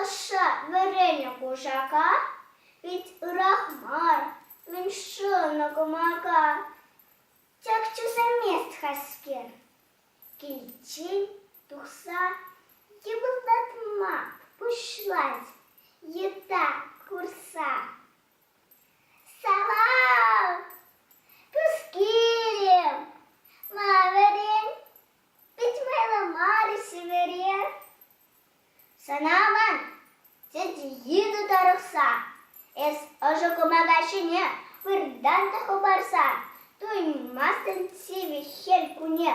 Ӑшша вӗреннӗ кушака пит ырах мар, мӗн шӑнӑ кӑмака. Ҫак чесамест-ха-ҫке, киличчен тухса йӑпӑлтатма пуҫлать йытта курса. Салам! Пускилем! Ма вӗрен? Пит майлӑ мар-и сивӗре? Сана аван, тете, йытӑ тарӑхса, эс ӑшӑ кӑмака ҫине выртан та хӑпарса туйӑнмастӑн сивӗ хӗл кунне.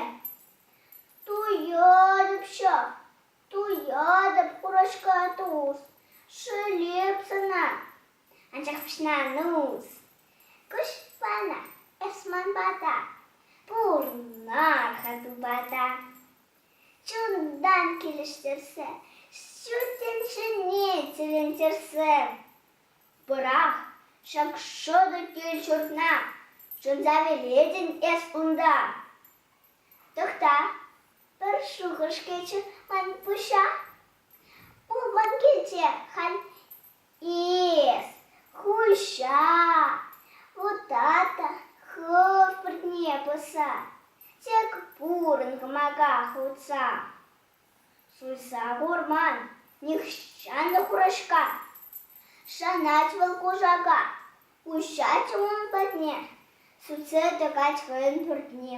Туйӑтӑпччӗ, туйӑтӑп курӑшка тус, шӳлеп сана, анчах пуҫна нус. Куҫ вара эс ман пата, пурӑнар-ха тупата. Чунтан килӗштерсе, ҫу тӗнчене тӗлӗнтерсе пӑрах ҫак шӑтӑ кил-ҫуртна шӑнса вилетӗн эс унта. Тӑхта, пӗр шухӑш кӗчӗ ман пуҫа. Пулман килте халь Эс хуҫа, вутата хӑв пӗрне пӑса, тек пурӑн кӑмака хутса. Суйса курман нихҫан та хураҫка, шанать вӑл кушака. Уҫать ун патне, сутсе тӑкать хӑйӗн пӳртне.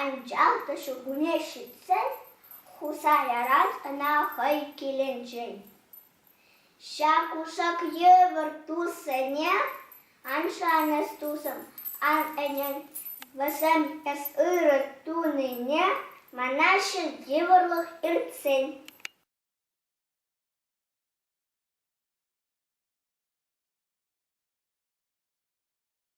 Анчах та ҫуркунне ҫитсен Хусаяран ӑна хӑй килӗнчен ҫак кушак йывӑр туссене ан шанӑҫ тусӑм, ан ӗнен. Вӗсем эс ырӑ тунине манаҫҫӗ йывӑрлӑх иртсен.